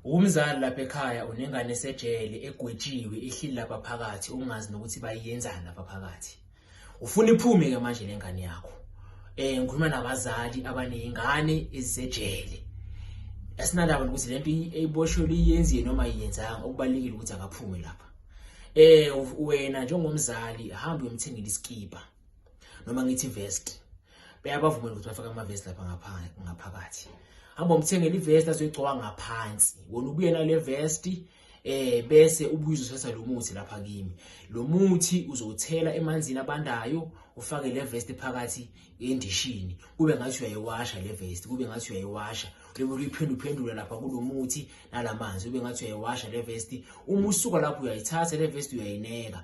Umzali lapha ekhaya unengane esejele egwetshiwe ihlili lapha phakathi ungazi nokuthi bayiyenzani lapha phakathi. Ufuna iphume ke manje lengane yakho. Eh ngikhuluma nabazali abanezingane ezisejele. Asinandaba ukuthi lento eyiboshwe liyenziwe noma iyenzanga okubalekile ukuthi akaphume lapha. Eh wena njengomzali hamba uyomthengela isikipa. noma ngithi vest beyabavumela ukuthi bafake amavest lapha ngaphakathi hamba umthengele ivest azoyigcoka ngaphansi wona ubuye nale vest eh bese ubuye uzothatha lo muthi lapha kimi lo muthi uzothela emanzini abandayo ufake le vest phakathi endishini kube ngathi uyayiwasha le vest kube ngathi uyayiwasha bebe uyiphinda uphendule lapha kulomuthi nalamanzi ube ngathi uyayiwasha le vesti uma usuka lapho uyayithatha le vesti uyayineka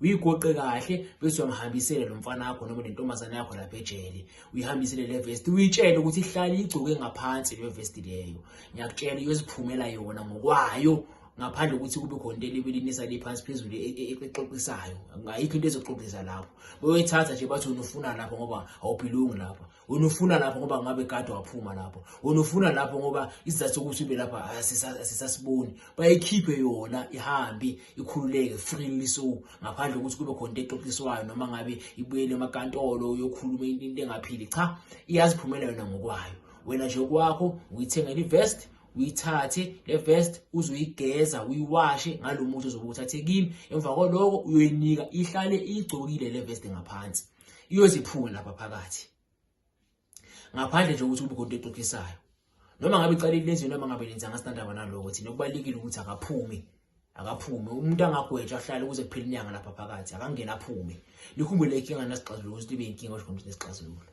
uyigoqe kahle bese uyamhambisela lo mfana wakho noma nentombazane yakho lapha ejele uyihambisele le vesti uyitshele ukuthi ihlale igcoke ngaphansi le vesti leyo ngiyakutshela iyoziphumela yona ngokwayo ngaphandle ukuthi kube khona into elibilinisa liphansi phezulu e, e, e, exoxisayo ayikho into ezoxoxisa lapho beyoyithatha nje bathi unufuna lapho ngoba awuphilungi lapho wena ufuna lapho ngoba ngabe kade waphuma lapho wena ufuna lapho ngoba isizathu sokuthi ube lapha asisasiboni bayikhiphe yona ihambe ikhululeke freely so ngaphandle kokuthi kube khona into exoxiswayo noma ngabe ibuyele emakantolo uyokhuluma into engaphili cha iyaziphumela yona ngokwayo wena nje kwakho uyithengela ivest uyithathe le vest uzoyigeza uyiwashe ngalo muthi ozobe uthathe kimi emva kwaloko uyoyinika ihlale igcokile le vest ngaphansi iyoziphula lapha phakathi ngaphandle nje ukuthi ubukhona into exoxisayo noma ngabe iqalile lenziwe noma ngabe lenza ngasitandaba naloko thina kubalekile ukuthi akaphumi akaphume umuntu angagwetshwa ahlale ukuze kuphele inyanga lapha phakathi akangena aphume likhumbule inkinga nasixazululo ukuthi ibe inkinga osho ukuthi nesixazululo